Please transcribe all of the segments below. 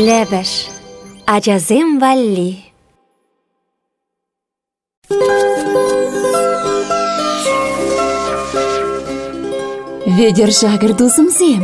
Лӗпӗш ачасем валли Вӗтӗр шакӑр тусӑмсем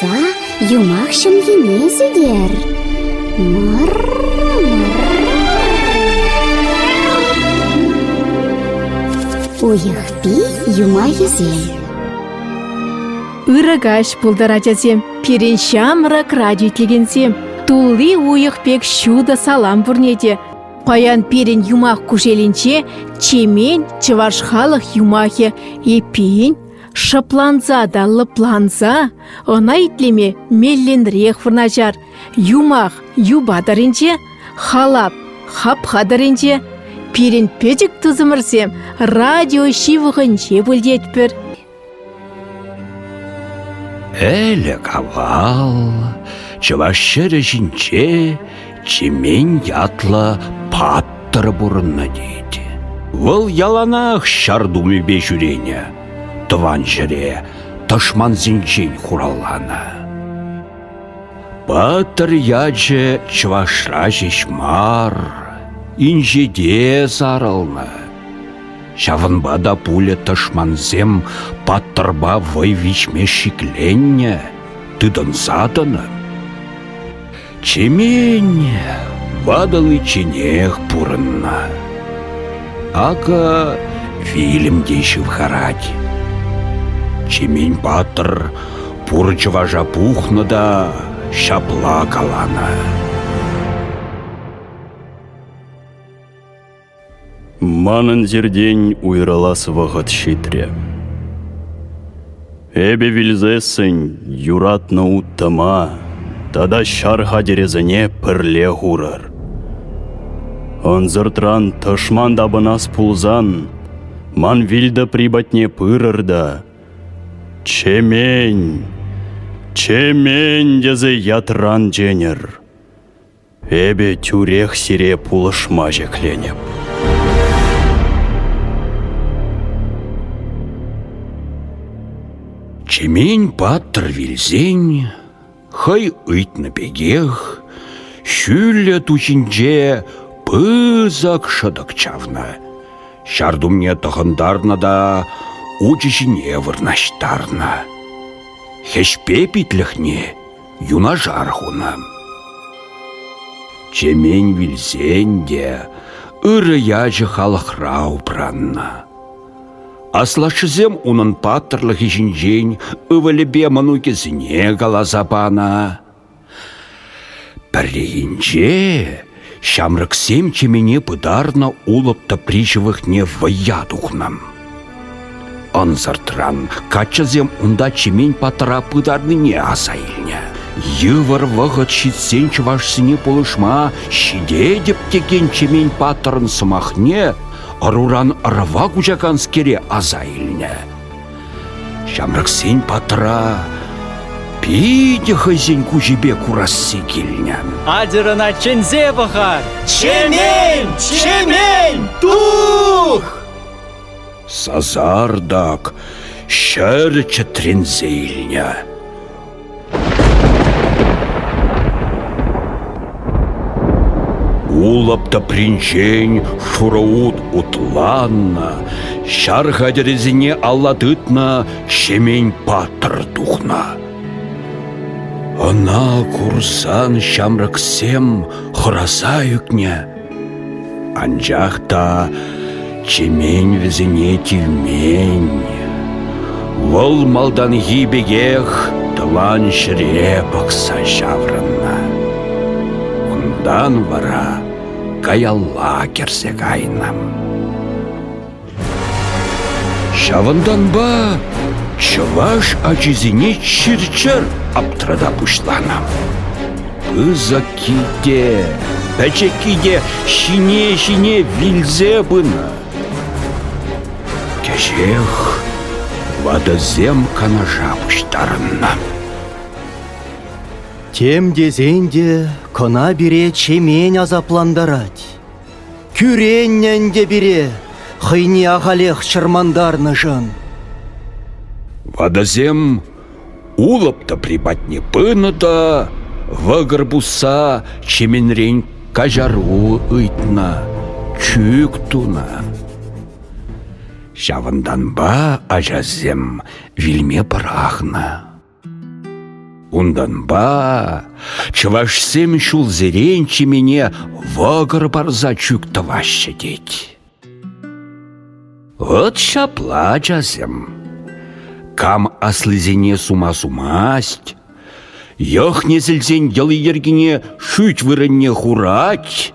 Та юмах ҫӑмхине-сӗтер. Уйӑхпи юмахӗсем. Ырӑ каҫ пултӑр, ачасем, пирӗн ҫамрӑк радио итлекенсем. Тулли уйӑх пек ҫутӑ салам пурне те. Паян пирӗн юмах кушелӗнче Чемен чӑваш халӑх юмахӗ эппин Шӑпланса та лӑпланса ӑна итлеме мелленрех вырнаҫар. Юмах юпа тӑрринче, халап хапха тӑрринче. Пирӗн пӗчӗк тусӑмӑрсем радио ҫывӑхӗнче выльетпӗр. Ӗлӗк-авал чӑваш ҫӗрӗ ҫинче Чемен ятлӑ паттӑр пурӑннӑ тет. Вӑл яланах ҫар тумӗпе ҫӳренӗ, тӑван ҫӗре тӑшмансенчен хуралланӑ. Паттӑр ячӗ чӑвашра ҫеҫ мар, инҫете сарӑлнӑ. Ҫавӑнпа та пулӗ тӑшмансем паттӑрпа вӑй виҫме шикленнӗ, тытӑнса тӑнӑ. Чемен ватӑличченех пурӑннӑ. Акӑ вилӗм те ҫывхарать. Чемен патӑр пур чӑваша пухнӑ та ҫапла каланӑ. Манӑн сиртен уйрӑлас вӑхӑт ҫитрӗ. Эпӗ вилсессӗн юратнӑ уттӑма тата ҫар хатӗрӗсене пӗрле хурӑр. Ӑнсӑртран тӑшман тапӑнас пулсан, ман вилтӑпри патне пырӑр та «Чемен! Чемен!» тесе ятран ченӗр. Эпӗ тӳрех сире пулӑшма ҫӗкленӗп. Чемен паттӑр вилсен, хӑй ыйтнӑ пекех, ҫӳллӗ ту ҫинче пысӑк шӑтӑк чавнӑ. Ҫар тумне тӑхӑнтарнӑ та учӗ ҫине вырнаҫтарнӑ. Хӗҫпе питлӗхне юнашар хунӑ. Чемен вилсен те ырӑ ячӗ халӑхра упраннӑ. Аслашшӗсем унӑн паттӑрлӑхӗ ҫинчен ывӑлӗпе мӑнукӗсене каласа панӑ. Пӗррехинче Ҫамрӑксем чемене пытарнӑ улӑп тӑпри ҫывӑхне вӑййа тухнӑ. Ӑнсӑртран каччӑсем унта чемен патра пытарнине аса илнӗ. Йывӑр вӑхӑт ҫитсен чӑвашсене пулӑшма ҫитетӗп текен чемен паттӑрӑн сӑмахне ӑруран ӑрӑва куҫаканскере аса илнӗ. Ҫамрӑксен патра питӗ хӑйсен куҫӗпе курасси килнӗ. Атьӑрӑна чӗнсе пӑхар! Чемен! Чемен! Тух! Сасартӑк ҫӗр чӗтренсе илнӗ. Улӑп тӑпринчен шурӑ ут утланнӑ, ҫар хатӗрӗсене алла тытнӑ Ҫемен патӑр тухнӑ. Ӑна курсан ҫамрӑксем хӑраса ӳкнӗ. Анчах та Чемен вӗсене тивмен. Вӑл малтанхи пекех тӑван ҫӗре пӑхса ҫаврӑннӑ. Унтан вара каялла кӗрсе кайнӑ. Ҫавӑнтанпа чӑваш ачисене чир-чӗр аптрата пуҫланӑ. Пысӑкки те, пӗчӗкки те ҫине-ҫине вилсе пынӑ. Кӗҫех ватӑсем канаша пуҫтарӑннӑ. Тем тесен те кӑна пире Чемен асаплантарать. Кӳреннӗ ӗнтӗ пире хӑйне ахалех чӑрмантарнӑшӑн. Ватӑсем улӑп тӑпри патне пынӑ та вӑкӑр пусса чеменрен каҫару ыйтнӑ, чӳк тунӑ. Ҫавӑнтанпа ачасем вилме пӑрахнӑ. Унтанпа чӑвашсем ҫулсерен чемене вӑкӑр парса чӳк тӑваҫҫӗ тет. Вӑт ҫапла, ачасем, кам аслисене сума-сумасть, йӑх-несӗлсен йӑли-йӗркине шӳт вырӑнне хурать,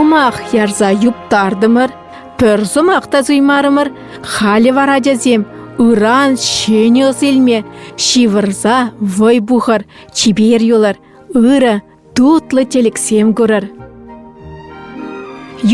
юмах ярса юптартӑмӑр пӗр сӑмах та суймарӑмӑр халӗ вара ачасем ыран ҫӗнӗ ӑс илме ҫывӑрса вӑй пухӑр чипер юлӑр ырӑ тутлӑ тӗлӗксем курӑр.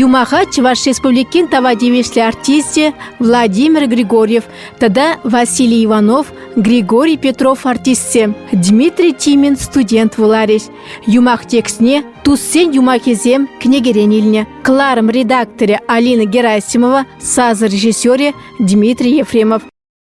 Юмаха Чӑваш Республикин тава тивӗҫлӗ артисчӗ Владимир Григорьев тата Василий Иванов Григорий Петров артистсем Дмитрий Тимин студент вуларӗҫ. Юмах текстне туссен юмахӗсем кӗнекерен илнӗ. Кларым редакторӗ Алина Герасимова, саз режиссерӗ Дмитрий Ефремов.